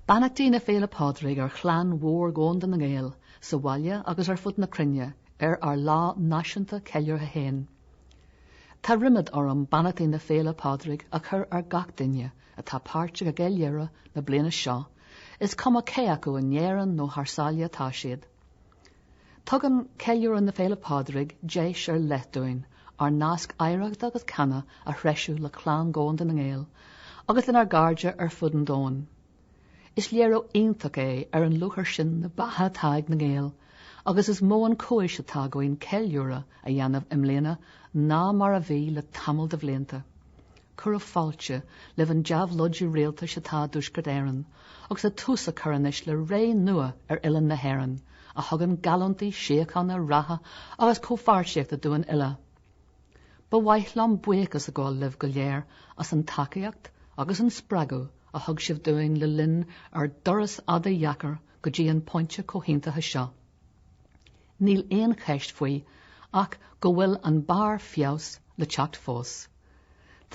Beannachtaí na Féile Pádraig ar chlann mhór dhomhanda na nGael sa bhaile agus ar fud na cruinne ar ár lá náisiúnta ceiliúrtha féin. Tá ríméad orm beannachtaí na Féile Pádraig a chur ar gach duine atá páirteach i gceiliúradh na bliana seo, is cuma cé acu in Éirinn nó thar sáile atá siad. Tugann ceiliúradh na Féile Pádraig deis ar leith dúinn ár nasc oidhreachta agus ceana a threisiú le clann dhomhanda na nGael agus lenár gcairde ar fud an domhain. Is léiriú iontach é ar an lúchair sin na beatha atá ag na Gaeil agus is mó an chúis atá againn ceiliúradh a dhéanamh i mbliana ná mar a bhí le tamall de bhlianta. Cuireadh fáilte roimh an déabhlóid rialtais i dTuaisceart Éireann agus tá tús á chur anois le ré nua ar oileán na hÉireann a thugann geallúntaí síochána, ratha agus comhpháirtíochta dúinn uile. Ba mhaith liom buíochas a ghabháil libh go léir as an tacaíocht agus an spreagadh a thug sibh dúinn le linn ár dturas fada dheacair go dtí an pointe comhaontaithe seo. Níl aon cheist faoi ach go bhfuil an barr feabhas le teacht fós.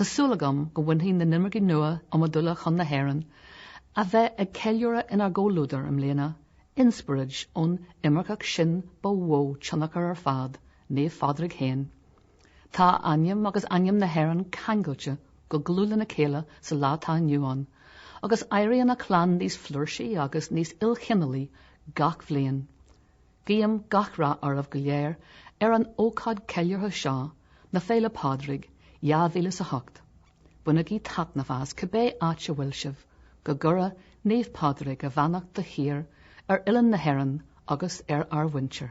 Tá súil agam go mbainfidh na himircigh nua iomadúla chun na hÉireann a bheidh ag ceiliúradh inár gcomhluadar i mbliana, inspioraid ón imirceach sin ba mhó tionchar ar fad, Naomh Pádraig fhéin. Tá a ainm agus ainm na hÉireann ceangailte go dlúth lena chéile sa lá atá inniu ann, agus éiríonn a chlann níos flúirsí agus níos ilchineálaí gach bliain. Guím gach rath oraibh go léir ar an ócáid ceiliúrtha seo na Féile Pádraig 2000 is a hocht. Bainigí taitneamh as, cibé áit a bhfuil sibh. Go gcuire Naomh Pádraig a bheannacht de shíor ar oileán na hÉireann agus ar a muintir.